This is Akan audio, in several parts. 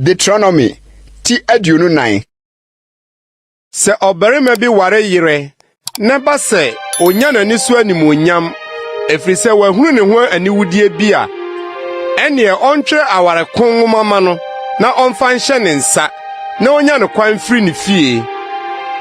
Deuteronomy ti aduonu nan. Sɛ ɔbarima bi ware yere na ɛba sɛ onya n'ani so animuonyam ɛfiri sɛ wahunu ne ho aniwudeɛ bi a, ɛnneɛ ɔntwerɛ aware ko nwoma ma no na ɔmfa nhyɛ ne nsa. na onya no kwan firi ne fie.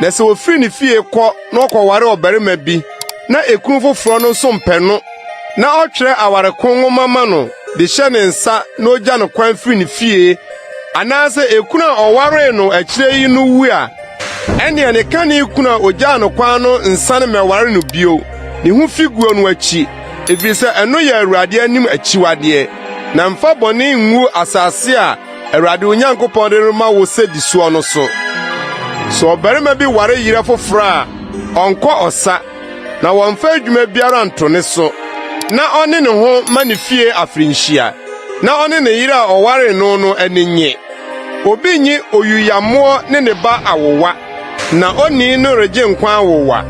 Na sɛ ofiri ne fie kɔ na ɔkɔware ɔbarima bi na ekunu foforɔ no nso mpɛ no na ɔtwerɛ aware ko nwoma ma no de hyɛ ne nsa na ogya no kwan firi ne fie, anaasɛ ekunu a ɔwaree no akyire yi no wu a, ɛnneɛ ne kane kunu a ogyaa no kwan no nsane mmɛware no bio. Ne ho fi guo no akyi, ɛfiri sɛ ɛno yɛ Awurade anim akyiwadeɛ. Na mfa bɔne ngu asase a Awurade wo Nyankopɔn de rema wo sɛdisoɔ no so. Sɛ ɔbarima bi ware yerɛ foforɔ a, ɔnkɔ ɔsa, na wɔmfa adwuma biara nto ne so, na ɔne ne ho ma ne fie afirinhyia, na ɔne ne yere a ɔwaree no no ani nnye. Obi nyi oyuyammoɔ ne ne ba awowa, na onii no regye nkwa awowa.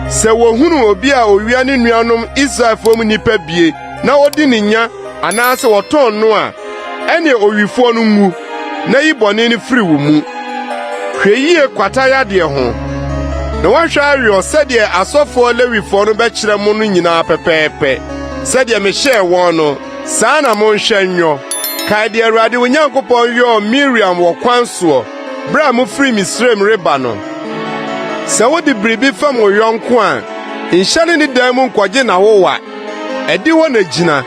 Sɛ wɔhunu obi a owia ne nuanom Israelfoɔ mu nnipa bie na odi ne nya anaasɛ ɔtɔn no a, ɛne owifoɔ no nwu, na yi bɔne no firi wo mu. Hwɛ yie kwata yadeɛ ho, na woahwɛ aweɔ sɛdeɛ asɔfoɔ Lewifoɔ no bɛkyerɛ mo no nyinaa pɛpɛɛpɛ. Sɛdeɛ mehyɛɛ wɔn no, saa na monhwɛ nyɔ. Kae deɛ Awurade wo Nyankopɔn yɔɔ Miriam wɔ kwan soɔ berɛ a mofiri Misraim reba no. Sɛ wode biribi fɛm wo yɔnko a, nhyɛne ne dan mu nkɔgye n'awowa. Adihɔ na gyina,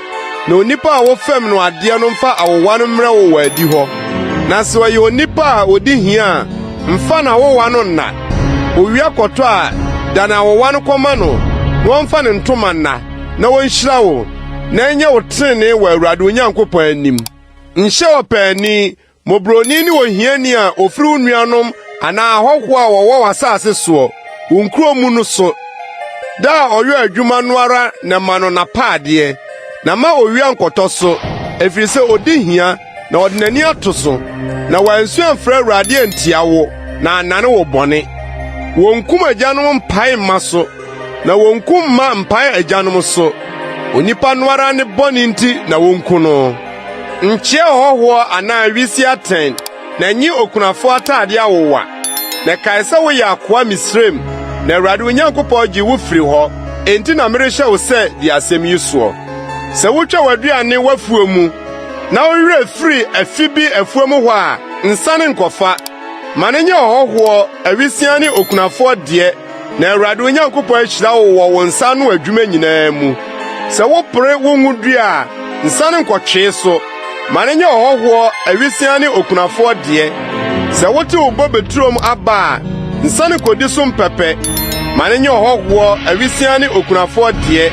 na onipa a wofɛm no adeɛ no mfa awowa no mmrɛ wo wɔ adihɔ. Na sɛ ɔyɛ onipa a ɔdi hia a, mfa n'awowa no nna. Owia kɔtɔ a, dane awowa no kɔma no, na ɔmfa ne ntoma nna, na ɔnhyira wo, na ɛnyɛ wo trenee wɔ Awurade wo Nyankopɔn anim. Nhyɛ ɔpaani Mmɔborɔni ne ohiani a ofiri wo nuanom anaa ahɔho a wɔwɔ w'asase soɔ, wo nkuro mu no so. Da a ɔyɔ adwuma no ara na ma no n'apaadeɛ, na mma owia nkɔtɔ so, ɛfiri sɛ ɔdi hia na ɔde n'ani ato so, na wansu amfrɛ Awurade antia wo na annane wo bɔne. Wɔnkum agyanom mpae mma so. Na wonku mma mpae agyanom so. Onipa no ara ne bɔne nti na wonku no. Nkyɛ ɔhɔhoɔ anaa wisi atɛn, na nye okunafo atade awowa. Na kae sɛ woyɛ akoa Misraim, na Awurade wo Nyankopɔn gyee wo firii hɔ. Enti na merehyɛ wo sɛ di asɛm yi soɔ. Sɛ wotwa w'aduane w'afuo mu, na wo werɛ firi afi bi afuo mu hɔ a, nsane nkɔfa. Ma no nyɛ ɔhɔhoɔ, awisiaa ne okunafoɔ deɛ. Na Awurade wo Nyankopɔn ahyira wo wɔ wo nsa ano adwuma nyinaa mu. Sɛ wopere wo ngo dua a, nsa no nkɔtwee so. Ma no nyɛ ɔhɔhoɔ, awisiaa ne okunafoɔ deɛ. Sɛ wote wo bobe turom aba a, nsa no kɔdi so mpɛpɛ. Ma no nyɛ ɔhɔhoɔ, awisiaa ne okunafoɔ deɛ.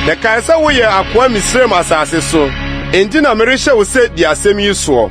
Na kae sɛ woyɛ akoa Misraim asase so. Enti na merehyɛ wo sɛ di asɛm yi soɔ.